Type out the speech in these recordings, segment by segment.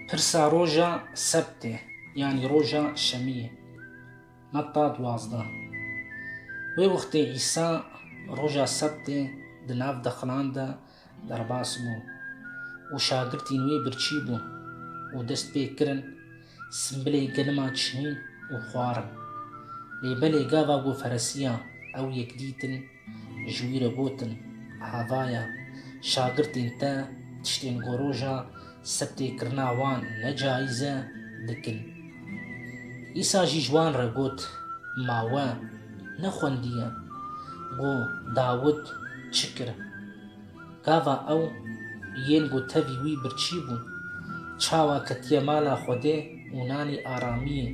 Pirsa roja sebtê yanî roja şemiyê metta duwazdeh. Wê wextê Îsa roja sebtê di nav dexilan de derbas bû û şagirtîn wî birçî bûn û dest pê kirin simbilê gelima çinîn û xwarin. Lê belê gava ku feresiya ew yek dîtin, Ji wî re gotin, Hevaya, şagirtên te tiştên ku roja sebtê kirina wan ne caîz e, dikin. Îsa jî ji wan re got, Ma we nexwendiye ku Dawid çi kir? Gava ew yên ku tevî wî birçî bûn, çawa ketiye mala Xwedê û nanî aramiyê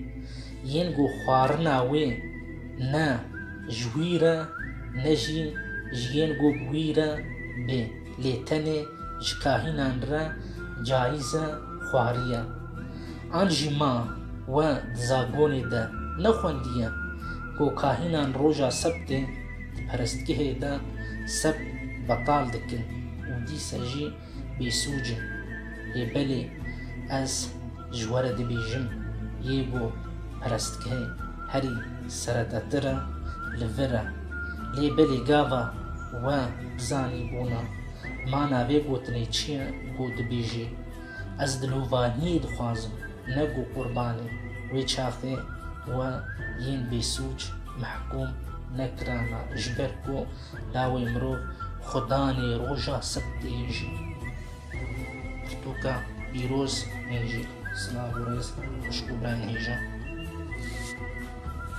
yên ku xwarina wê ne ji wî re ne jî ji yên ku bi wî re bê lê tenê ji kahînan re cayîz e xwariye. An jî ma we di zagonê de nexwendiye ku kahînan roja sebtê Di perestgehê de seb betal dikin û dîsa jî bêsûc in. Ê belê ez ji we re dibêjim, yê ku perestgehê herî seredetir e li vir e. Lê belê gava we bizanîbûna mana vê gotinê çi ye ku dibêjî Ez dilovahiyê dixwazim ne ku qurbanê wê çaxê we yên bêsûc mehkûm nekirana ji ber ku lawê mirov xwe danê roja sebtê jî pirtûka pîroz hêjî. Silav û rêz xwişk û birayên hêja.